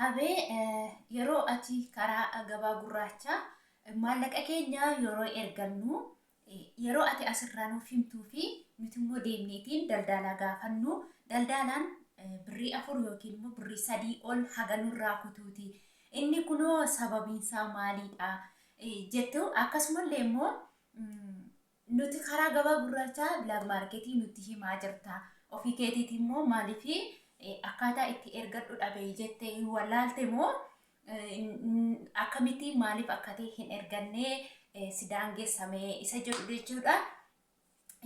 Abee yeroo ati karaa gabaa gurraachaa maallaqa keenya yeroo ergannu yeroo ati asirraa nuuf himtuu fi nuti immoo deemneetiin daldaalaa gaafannu daldaalaan birrii afur yookiin immoo birrii sadii ol haga nurraa kutuuti inni kunoo sababiinsaa maaliidha jettu akkasumallee immoo Nuti karaa gabaa gurraachaa black market nutti himaa jirta. Ofii keetiiti immoo maaliif akkaataa itti ergadhu dhabe jette hin wallaalte moo akkamitti maaliif akka ta'e hin ergannee si daangessame isa jedhu jechuudha.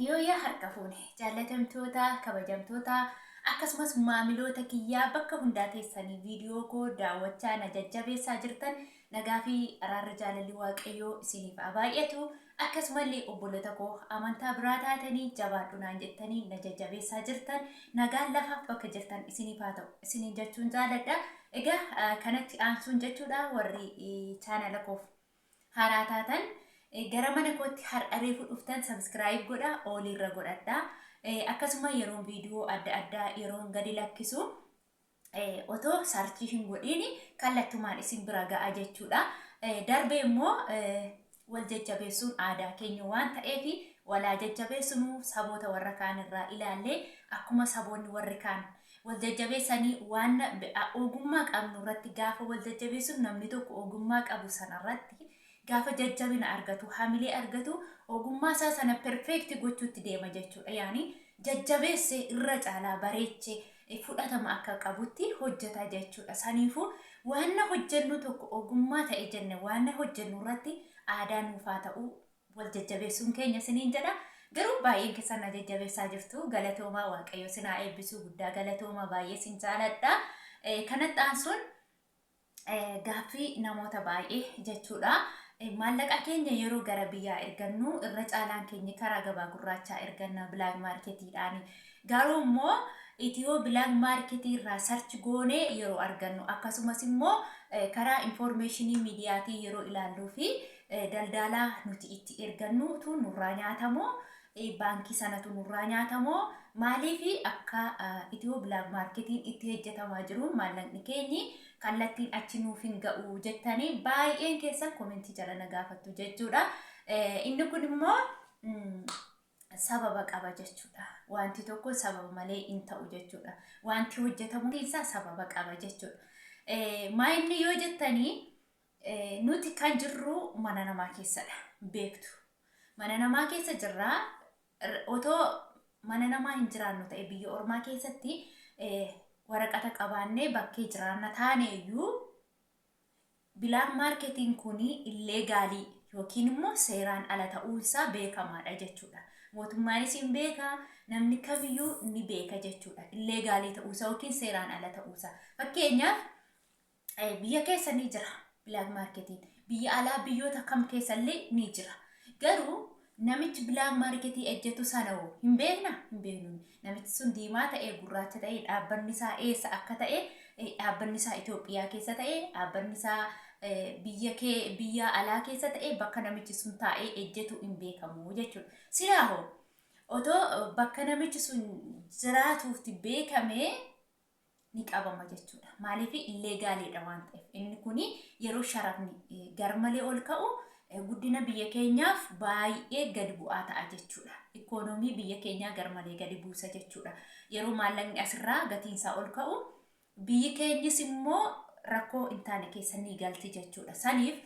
Yooyyaa harka fuune jaallatamtoota kabajamtoota akkasumas maamiloota kiyyaa bakka hundaa teessanii viidiyoo koo daawwachaa na jajjabeessaa jirtan nagaa fi araarri jaalalli waaqayyoo isiniif haa baay'atu Akkasumallee obboloota koo amantaa biraa taatanii jabaadhu naan jettanii na jajjabeessaa jirtan nagaan lafaaf bakka jirtan isiniif haa ta'u isiniin jechuun jaaladha. Egaa kanatti aansuun jechuudha warri chaanala koof haaraa taatan gara mana kootti har'a reefu dhuftan sabiskiraayib godha ooliirra godhadha. Akkasuma yeroon viidiyoo adda addaa yeroon gadi lakkisu otoo sarchii hin godhiin kallattumaan isin bira ga'a jechuudha. Darbee immoo wal jajjabeessuun aadaa keenya waan ta'eef walaa jajjabeessinu saboota warra kaan irraa ilaallee akkuma saboonni warri kaan wal jajjabeessanii waan ogummaa qabnu irratti gaafa wal jajjabeessinu namni tokko ogummaa qabu sana irratti Gaafa jajjabina argatu, hamilee argatu, ogummaa isaa sana perfect gochuutti deema jechuudha. Yaani jajjabeesse irra caalaa bareeche fudhatama akka qabutti hojjeta jechuudha. Saniifuu waanna hojjennu tokko ogummaa ta'e jenne waanna hojjennu irratti aadaa nuuf haa ta'u wal jajjabeessuun keenya isiniin jedha. Garuu baay'een keessan na jajjabeessaa jirtu. Galatoomaa Waaqayyo isin haa eebbisuu guddaa galatoomaa baay'ee isin jaaladha. Kanatti aansuun Gaaffii namoota baay'ee jechuudha. Maallaqa keenya yeroo gara biyyaa ergannu irra caalaan keenya karaa gabaa gurraachaa erganna bilaak maarketiidhaani. Garuu immoo itiyoo bilaak maarketii irraa sarchi goonee yeroo argannu akkasumas immoo karaa infoormeeshinii miidiyaatii yeroo ilaalluu fi daldaalaa nuti itti ergannuutu nurraa nyaatamoo baankii sanatu nurraa nyaata moo maaliif akka itiyoo bilaak maarketiin itti hejjetamaa jiruun maallaqni keenyi kallattiin achi nuuf hin ga'u jettanii baay'een keessan komentii jala na gaafattu jechuudha. Inni kun immoo sababa qaba jechuudha. Wanti tokko sababa malee hin ta'u jechuudha. Wanti hojjetamu isaa sababa qaba jechuudha. Maa inni yoo jettanii Nuti kan jirru mana namaa keessadha. Beektu. Mana namaa keessa jirra. Otoo mana namaa hin jiraannu ta'e biyya ormaa keessatti waraqata qabaannee bakkee jiraanna taane iyyuu bilaak maarketiin kun illee gaalii yookiin immoo seeraan ala ta'uunsaa beekamaadha jechuudha. Mootummaanis hin beeka, namni kamiyyuu ni beeka jechuudha. Illee gaalii ta'uusaa yookiin seeraan ala ta'uusaa. Fakkeenyaaf Eh, biyya keessa ni jira bilaak maarketiin biyya alaa biyyoota kam keessa illee ni jira garuu namichi bilaak maarketii ejjetu sana hoo hin beekna hin beeknu namichi sun diimaa ta'ee gurraacha ta'ee dhaabbanni isaa eessa akka ta'e eh, dhaabbanni isaa Itoophiyaa keessa ta'e dhaabbanni isaa eh, biyya kee biyya alaa keessa ta'e bakka namichi sun taa'ee ejjetu hin beekamu jechuudha silaa hoo otoo eh, bakka namichi sun jiraatuutti beekamee ni qabama jechuudha. Maaliif illee gaaleedha waan ta'eef inni kun yeroo sharafni eh, garmalee ol ka'u eh, guddina biyya keenyaaf baay'ee gad bu'aa ta'a jechuudha. Ikoonoomii biyya keenyaa garmalee gadi buusa jechuudha. Yeroo maallaqni asirraa gatiinsaa ol ka'u biyyi keenyis immoo rakkoo hin taane keessa ni galti jechuudha. Saniif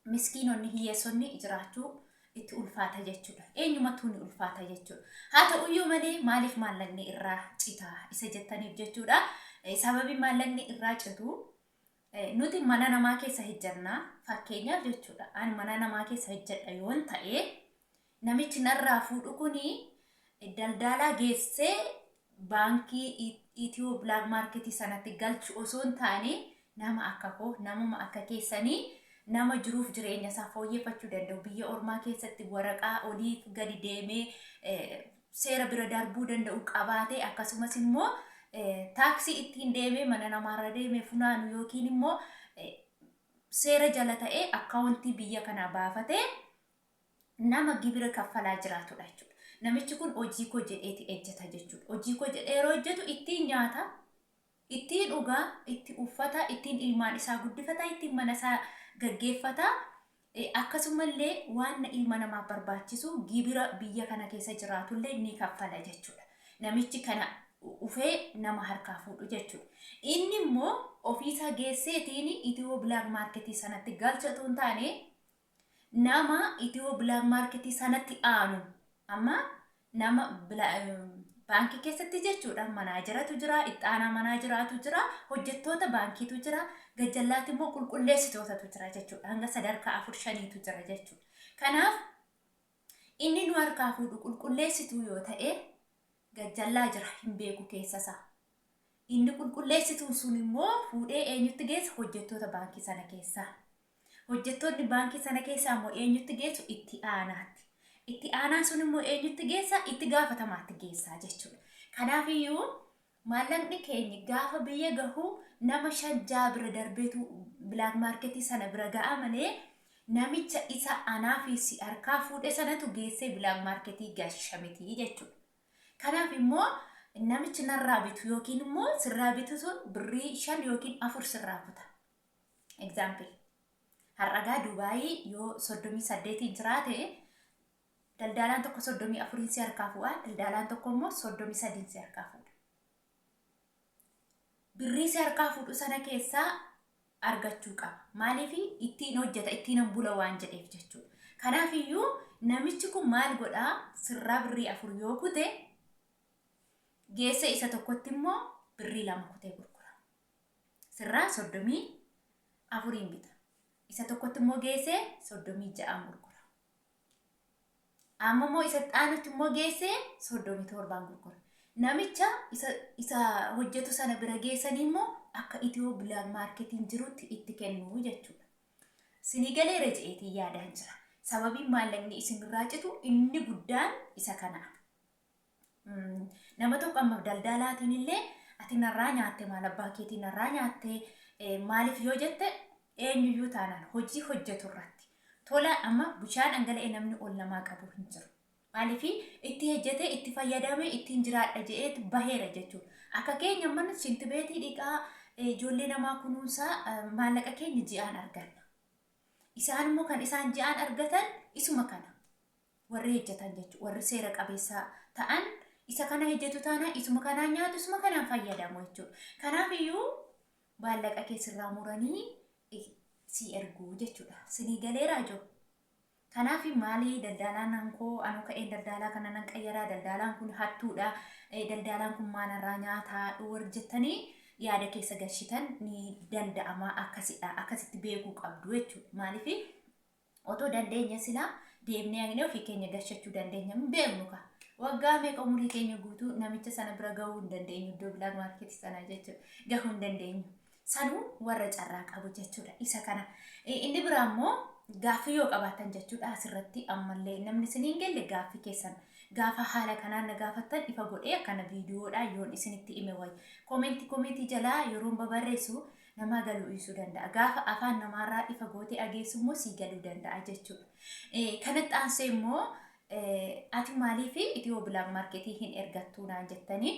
miskiinonni hiyyeessonni jiraachuu itti ulfaata jechuudha. Eenyumattuu ni ulfaata jechuudha. Haa ta'uyyuu malee maaliif maallaqni irraa cita isa jettaniif jechuudha. Eh, Sababiin maallaqni irraa citu eh, nuti mana namaa keessa hojjannaa fakkeenyaaf jechuudha. Ani mana namaa keessa hojjedha yoon ta'e Namichi narraa fuudhu kun daldaalaa geessee baankii Itiyoo Bilaak Maarketii sanatti galchu osoo hin taane nama akka koo namuma akka keessanii nama jiruuf jireenya isaa fooyyeffachuu danda'u biyya ormaa keessatti waraqaa oliif gadi deemee seera bira darbuu danda'u qabaatee akkasumas immoo taaksii ittiin deemee mana namaarra deemee funaanu yookiin immoo seera jala ta'ee akkaawuntii biyya kanaa baafatee nama gibira kaffalaa jiraatudha jechuudha. Namichi kun hojii koo jedheeti ejjeta jechuudha. Hojii koo jedhee yeroo hojjetu ittiin nyaata, ittiin dhugaa, itti uffata, ittiin ilmaan isaa guddifata, ittiin mana isaa gaggeeffata. Eh, Akkasumallee waan ilma namaaf barbaachisu gibira biyya kana keessa jiraatullee ni kaffala jechuudha. Namichi kana dhufee nama harkaa fuudhu jechuudha. Inni immoo ofiisaa geesseetiin itiyoo bilaak maarketii sanatti galcha otoo hin taane nama itiyoo bilaak maarketii sanatti aanu amma nama baankii keessatti jechuudha manaajaratu jira ittaanaa manaajaraatu jira hojjettoota baankiitu jira gajjallaatti immoo qulqulleessitootatu jira jechuudha hanga sadarkaa afur shaniitu jira jechuudha kanaaf inni nu harkaa fuudhu qulqulleessituu yoo ta'e gajjallaa jira hin beeku keessasaa inni qulqulleessituun sun immoo fuudhee eenyutti geessa hojjettoota baankii sana keessaa Hojjettoonni baankii sana keessaa immoo eenyutti geessu? Itti aanaatti. Itti aanaan sun immoo eenyutti geessa? Itti gaafatamaatti geessaa jechuudha. Kanaafiyyuu maallaqni keenya gaafa biyya gahu nama shan ja'a bira darbeetu bilaak maarketii sana bira ga'a malee namicha isa anaa fi si harkaa fuudhe sanatu geessee bilaak maarketii gasha miti jechuudha. Kanaaf immoo namichi narraa bitu yookiin immoo sirraa bitu sun birrii shan yookiin afur sirraa kuta. Example. Har'agaa Dubaayii yoo 38 jiraate daldaalaan tokko 34 si harkaa fuudha, daldaalaan tokko immoo 33 si harkaa fuudha. Birrii si harkaa fuudhu sana keessaa argachuu qaba. Maaliif ittiin hojjeta, ittiin bula waan jedheef jechuudha. Kanaaf iyyuu namichi kun maal godhaa sirraa birrii afur yoo kute geessa isa tokkotti immoo birrii lama kutee gurgura. sirraa soddomii afuriin bita. Isa tokkotti immoo geessee soddomii ja'aan gurgura. Amma immoo isa xaanutti immoo geessee soddomii torbaan gurgura. Namicha isa, isa hojjetu sana bira geessanii immoo akka itiyoo bilaak maarketiin jirutti itti kennu jechuudha. Sinii galee reja'eetiin yaadaan jira. Sababiin maallaqni isinirraa citu inni guddaan isa kanaaf. Mm, Nama tokko amma daldaalaatiin illee ati narraa nyaatte maal abbaa keetii narraa nyaatte eh, maaliif yoo jette eenyuyyuu taanaan hojii hojjetu irratti tola amma bishaan dhangala'ee namni ol namaa qabu hin jiru. Maaliif itti hojjete itti fayyadame ittiin jiraadha jedheet baheera jechuudha. Akka keenya mana shinti beetii dhiqaa eh, ijoollee namaa kunuunsaa eh, maallaqa keenya ji'aan arganna. Isaan immoo kan isaan ji'aan argatan isuma kana. warri hejjatan jechuudha. Warri seera qabeessa ta'an isa kana hejjetu taanaan isuma kanaan nyaatu isuma kanaan fayyadamu jechuudha. Kanaaf iyyuu baallaqa kee sirraa muranii eh, si erguu jechuudha. Sinii galeeraa jiru. Kanaaf maalii daldaalaan hankoo anuu ka'een daldaalaa kana nan qayyaraa daldaalaan kun hattuudha eh, daldaalaan kun maalarraa nyaataa warri jettanii yaada keessa galchitan ni danda'ama akkasidha akkasitti beekuu qabdu jechuudha. Maaliif Otoo dandeenya silaa deemnee haqnee ofii keenya gashachuu dandeenya. Hin beeknu kaa. Waggaa meeqa umurii keenya guutuu namicha sana bira gahuu hin dandeenyu. Iddoo bilaak maarkeetii sana jechuudha. Gahuu hin dandeenyu. Sanuu warra carraa qabu jechuudha. Isa kana. Eh, Inni biraa immoo gaaffii yoo qabaatan jechuudha asirratti ammallee namni isin hin gelle gaaffii keessan gaafa haala kanaan na gaafattan ifa godhee akkana viidiyoodhaan yoon isinitti hime wayya. Koomeentii koomeentii jalaa yeroon babarreessu namaa galuu dhiisuu danda'a. Gaafa afaan namaarraa ifa gootee ageessu immoo sii galuu danda'a jechuudha. Eh, Kanatti aansee immoo eh, ati maaliif itiyoo bilaak maarketii hin ergattuu naan jettanii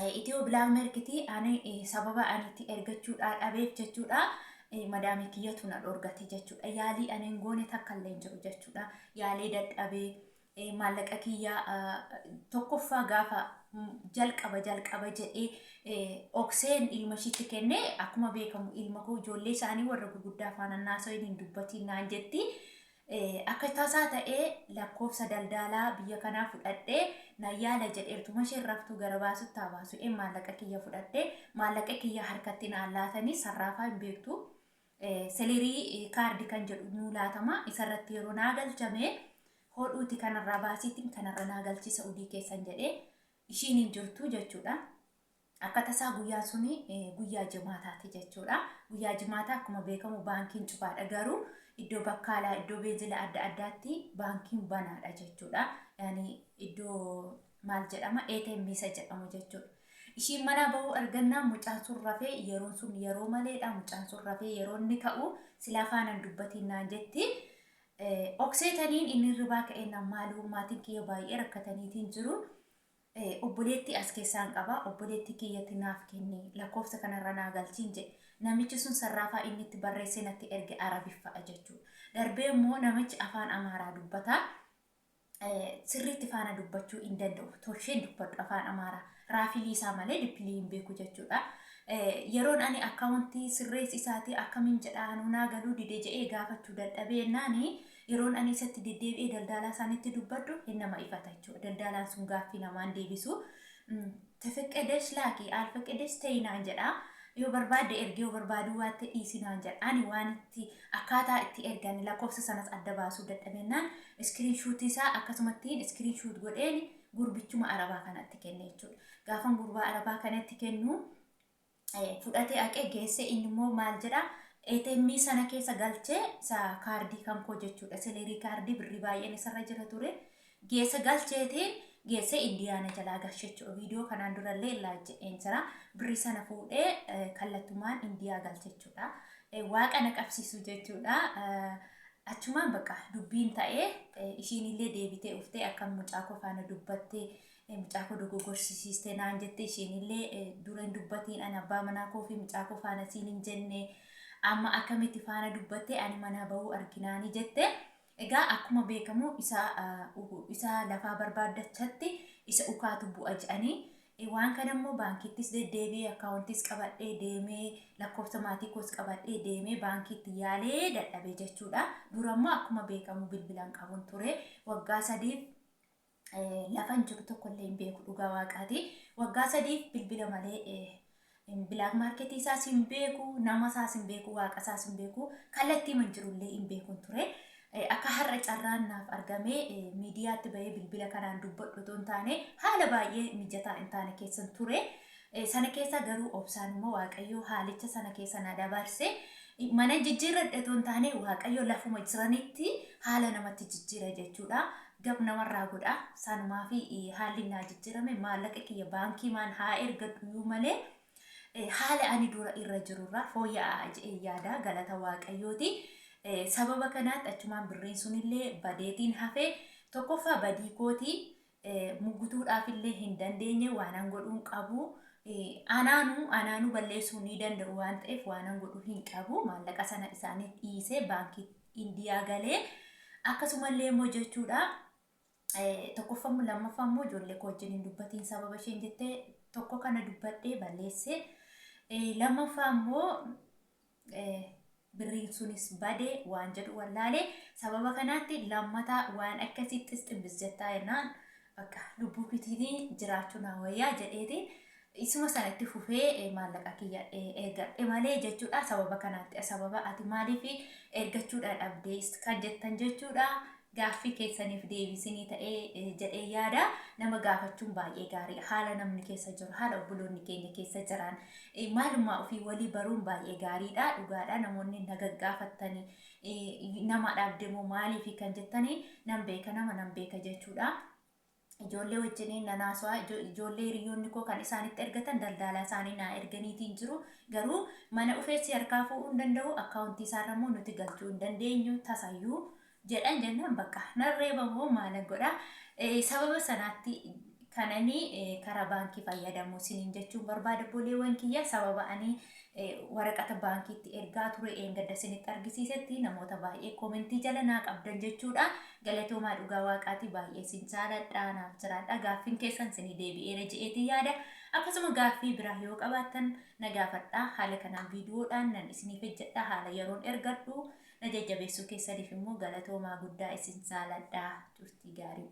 Eh, Itiyoo bilaak maarketii ani eh, sababa ani itti ergachuudhaa dhabeef jechuudha. Eh, Madaamii kiyyatu na dhorgate jechuudha. Yaalii ani hin goone takka illee hin jiru jechuudha. Yaalee dadhabee ee maallaqa kiyyaa ah, tokkoffaa gaafa mm, jalqaba jalqaba jedhee eh, okseen ilma ishiitti kenne akkuma beekamu ilma koo ijoollee isaanii warra gurguddaa faana naasoyin hin dubbatiin naan jetti Eh, akka tasaa ta'ee lakkoofsa daldaalaa biyya kanaa fudhadhee na yaala jedheertuma isheen raftuu gara baasutti haa baasu ee maallaqa kiyya fudhadhee maallaqa kiyya harkatti naan laatanii sarraafaa hin beektu Selerii kaardi kan jedhu nuu laatama isarratti yeroo naa galchame hodhuuti kanarraa baasiitiin kanarra naa galchii sa'udii keessan jedhee ishiin hin jirtu jechuudha. Akka tasaa guyyaan suni guyyaa jimaataati jechuudha. Guyyaa jimaataa akkuma beekamu baankiin cufaadha garuu iddoo bakkaalaa iddoo beenzila adda addaatti baankiin banaadha jechuudha. Yaani iddoo maal jedhama ATM isa jedhamu jechuudha. Ishiin manaa bahuu argannaan mucaan sun rafee yeroon sun yeroo maleedha mucaan sun rafee yeroo inni ka'u silaa faanan dubbatiin naan jetti. Okseetaniin inni hirribaa ka'ee naan maaloo maatiin kiyya baay'ee rakkataniitiin jiru. Obboleettii as keessaan qaba obboleettii kiyyatti naaf kenni lakkoofsa kanarra naa galchiin jedhe. Namichi sun sarraafaa inni itti barreessee natti erge arabiffa'a jechuudha. Darbee immoo namichi afaan amaaraa dubbata. sirriitti faana dubbachuu hin danda'u. Tolsheen dubbadhu afaan Amaaraa. Raafilii isaa malee dippilii hin beeku jechuudha. Yeroon ani akkaawuntii sirreessi isaatii akkamiin jedhaa nuunaa galuu dide jedhee gaafachuu dadhabee ennaani yeroon ani isatti deddeebi'ee daldaalaa isaanitti dubbadhu hin nama ifata jechuudha. Daldaalaan sun gaaffii namaan deebisu. Tefeqqedesh laaki, aalfeqqedesh te'i naan jedha. Yoo barbaadde ergi, yoo barbaaduu baatte dhiisi naan jedha. Ani waan itti, akkaataa itti ergan, lakkoofsa sanas adda baasuu dadhabennaan, screenshot isaa akkasumattiin screenshot godheen gurbichuma Arabaa kanatti kenne jechuudha. Gaafan gurbaa Arabaa kanatti kennu, fudhatee aqee geessee inni immoo maal jedha ATM sana keessa galchee isa kaardii kan koo jechuudha seleerii kaardii birrii baay'een isarra jira ture geessa galcheetiin geessee indiyaana jalaa galche jechuudha viidiyoo kanaan durallee laayik jedheen jira birrii sana fuudhee eh, kallattumaan indiyaa galche jechuudha Eh, waaqa na qabsiisu jechuudha Eh, achumaan baqa dubbiin ta'ee eh, ishiinillee deebitee uftee akka mucaa koo faana dubbattee Mucaa koo dogogorsiisiste naan jette isheenillee dura hin dubbatiin ani abbaa manaa koo fi mucaa koo faana siin hin jenne amma akkamitti faana dubbatte ani manaa bahuu arginaani jette. Egaa akkuma beekamu isa isa lafaa barbaaddachatti isa ukaatu bu'a jedhanii waan kana immoo baankiittis deddeebi'ee akkaawuntiis qabadhee deemee lakkoofsa maatii koos qabadhee deemee baankiitti yaalee dadhabee jechuudha. Dura immoo akkuma beekamu bilbilaan qabuun ture waggaa sadiif lafan jiru tokko illee hin beeku dhugaa waaqaati. Waggaa sadiif bilbila malee bilaak maarketii isaas hin beeku, nama isaas hin beeku, waaqa isaas hin beeku, kallattii man jiru illee hin beekun ture. Akka har'a carraan naaf argamee miidiyaatti bahee bilbila kanaan dubbadhu otoo hin taane haala baay'ee mijataa hin taane keessan ture. Sana keessa garuu obsaan immoo Waaqayyoo haalicha sana keessa na dabarse. Mana jijjiirradhe otoo hin taane Waaqayyo lafuma jiranitti haala namatti jijjiira jechuudha. gab namarraa godha. Sanumaafi haalli naa jijjirame maallaqa kiyya baankii maan haa ergadhuyuu malee haala ani dura irra jirurraa fooyya'aa je'een yaada galata waaqayyooti. Sababa kanaatti achumaan birriin sunillee badeetiin hafe tokkoffaa badii kooti mugutuudhaafillee hin dandeenye waanan godhuun qabu anaanu anaanu balleessuu ni danda'u waan ta'eef waanan godhu hin qabu maallaqa sana isaaniif dhiisee baankiitti Indiyaa galee akkasumallee immoo jechuudha tokkoffammoo lammaffaa immoo ijoollee koo wajjin hin dubbatiin sababa isheen jettee tokko kana dubbadhee balleesse lammaffaa immoo birriin sunis bade waan jedhu wallaale sababa kanaatti lammataa waan akkasii xisximbis jettaa jennaan bakka lubbuu kitiinii jiraachuu naa wayyaa jedheeti Isuma sana itti fufee eh, maallaqa kiyya eh, ergadhe malee jechuudha sababa kanaatti sababa ati maaliif ergachuudha dhabdee kan jettan jechuudha gaaffii keessaniif deebisinii ta'ee eh, jedhee yaada nama gaafachuun baay'ee gaarii haala namni keessa jiru haala obboloonni keenya keessa jiran eh, maalummaa ofii walii baruun baay'ee gaariidha dhugaadha namoonni na gaggaafattanii eh, nama dhabde moo maaliif kan jettanii nan beeka nama nan beeka jechuudha. Ijoollee wajjiniin nan haasawa. Ijo- Ijoollee hiriyoonni koo kan isaanitti ergatan daldaalaa isaanii naa erganiitiin jiru. Garuu mana dhufee si harkaa fuudhuu hin danda'u, akkaawuntii isaarra immoo nuti galchuu hin dandeenyu tasayyuu jedhan jennaan bakka nan reeba moo maalan godha. Eh, Sababa sanaatti kananii eh, karaa baankii fayyadamuu isiniin jechuun barbaada boleewwan kiyya sababa ani waraqata baankiitti ergaa ture eengadda sinitti argisiisetti namoota baay'ee koomentii jala naa qabdan jechuudha galatoomaa dhugaa waaqaatii baay'ee sin jaaladha naaf jiraadha gaaffiin keessan sinii deebi'eera je'eetii yaada akkasuma gaaffii biraa yoo qabaattan na gaafadha haala kanaan viidiyoodhaan nan isiniif hojjedha haala yeroon ergadhu na jajjabeessuu keessaniif immoo galatoomaa guddaa isin jaaladha turtii gaarii